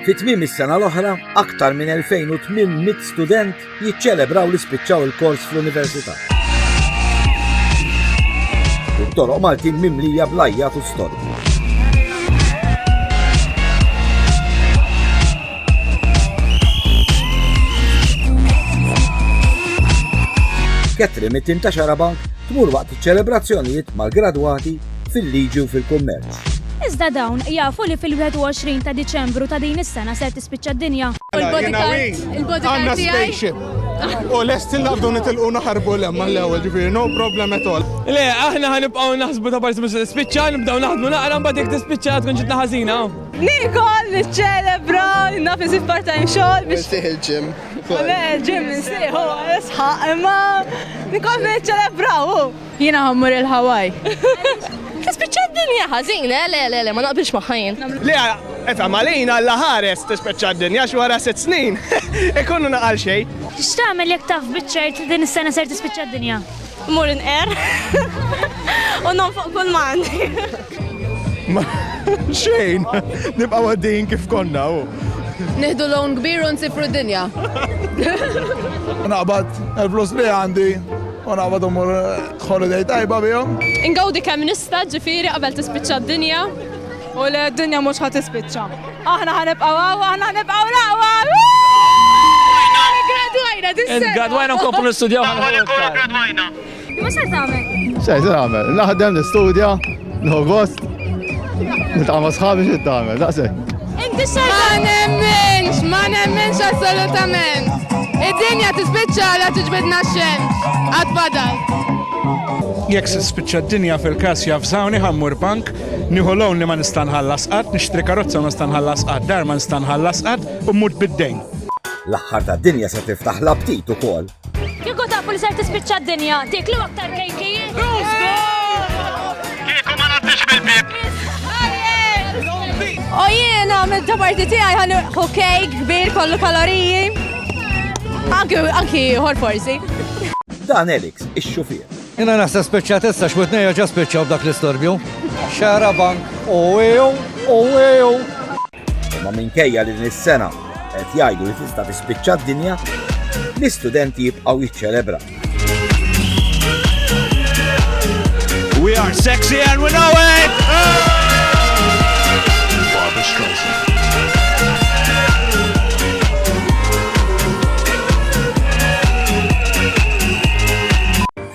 Fi tmiem is-sena l-oħra, aktar minn 2800 student jiċċelebraw li spiċċaw il-kors fl-università. Il-toroq Maltin mimlija blajjat u storbi. Ketri mit-tim ta' Xarabank tmur waqt iċ-ċelebrazzjonijiet mal-gradwati fil-liġi u fil-kummerċ. Iżda dawn jafu li fil-21 ta' Diċembru ta' din is-sena ser tispiċċa d-dinja. Għandna spaceship u lesti naqbdu nitilqu naħarbu 'l hemm mal-ewwel, ġifieri no problem at all. Le, aħna ħa nibqgħu naħsbu ta' parsi mhux se tispiċċa, nibdew naħdmu naqra mbagħad jekk tispiċċa tkun ġitna ħażina. Niekol, niċċelebra, naf insib part-time xogħol biex. Insih il-gym. Le, il-gym insieħu, nisħaq, imma nkompli niċċelebra, hu. Jiena ħammur il-Hawaii. Tispiċċa d-dinja ħażin, eh, le, le, le, ma naqbilx magħha jien. Le, efhem għalin Alla ħares tispiċċa d-dinja għax wara sitt snin ikunu naqal xejn. X'tagħmel jekk taf biċ-ċert li din is-sena ser tispiċċa d-dinja? Mmur inqer u nonfoq kull ma għandi. Xejn, nibqa' għaddejjin kif konna u. Nieħdu loan kbir u nsifru d-dinja. Naqbad il-flus li għandi U naqbad mmur holiday tajba bihom. Ingawdi kemm nista' ġifieri qabel tispiċċa d-dinja. U le d-dinja mhux ħa tispiċċa. Aħna ħa nibqgħu hawn, aħna ħa nibqgħu l-aqwa! Gradwajna dis-sena. Gradwajna nkomplu nistudjaw ħafna. Gradwajna. Imma x'se tagħmel? Xejn se nagħmel. Naħdem, nistudja. No gost. Nitqama sħabi xi tagħmel, daqshekk. Inti xejn. Ma nemminx, ma nemminx assolutament. Id-dinja tispiċċa la tiġbidna x-xemx. Għad fadal. Jekk se spiċċa d-dinja fil-każ jafżawni ħammur bank, nieħu lown li ma nista' nħallas qatt, nixtri karozza ma nista' nħallas qatt, dar ma nista' nħallas qatt u mmut bid-dejn. L-aħħar tad-dinja se tiftaħ l-aptit ukoll. Kieku tafu li ser tispiċċa d-dinja, tiklu aktar kejkijiet. Kieku ma naddix bil-bib. O jiena minn ta' parti tiegħi ħallu kejk kbir kollu kaloriji. Anki anki ħor forsi. Dan Elix, ix-xufier. Jena naħseb speċjatezza x'witnejja ġa speċjaw f'dak l-istorbju. Xara bank, u ew, u ew. Imma minkejja li din is-sena qed jgħidu li tista' tispiċċa d-dinja, l-istudenti jibqgħu jiċċelebra. We are sexy and we know it! Barbara Streisand.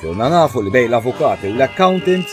Donna nafu li bej l-avukat u l-accountant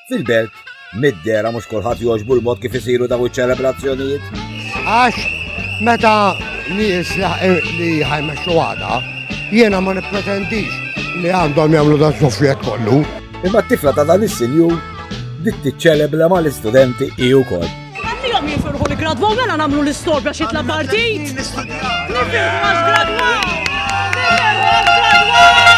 Fil-belt, mid-dera mhux kulħadd jogħġbu l-mod kif isiru daw iċ-ċelebrazzjonijiet. Għax meta nies li ħajmexxu għada, jiena ma nippretendix li għandhom jagħmlu dan sofjet kollu. Imma t-tifla ta' dan is-sinjur dik tiċċelebra mal-istudenti hi wkoll. Ħallihom jifirħu li gradwaw mela nagħmlu l-istorbja xi tla' partit. Nifirħu għax gradwaw. Nifirħu għax gradwaw.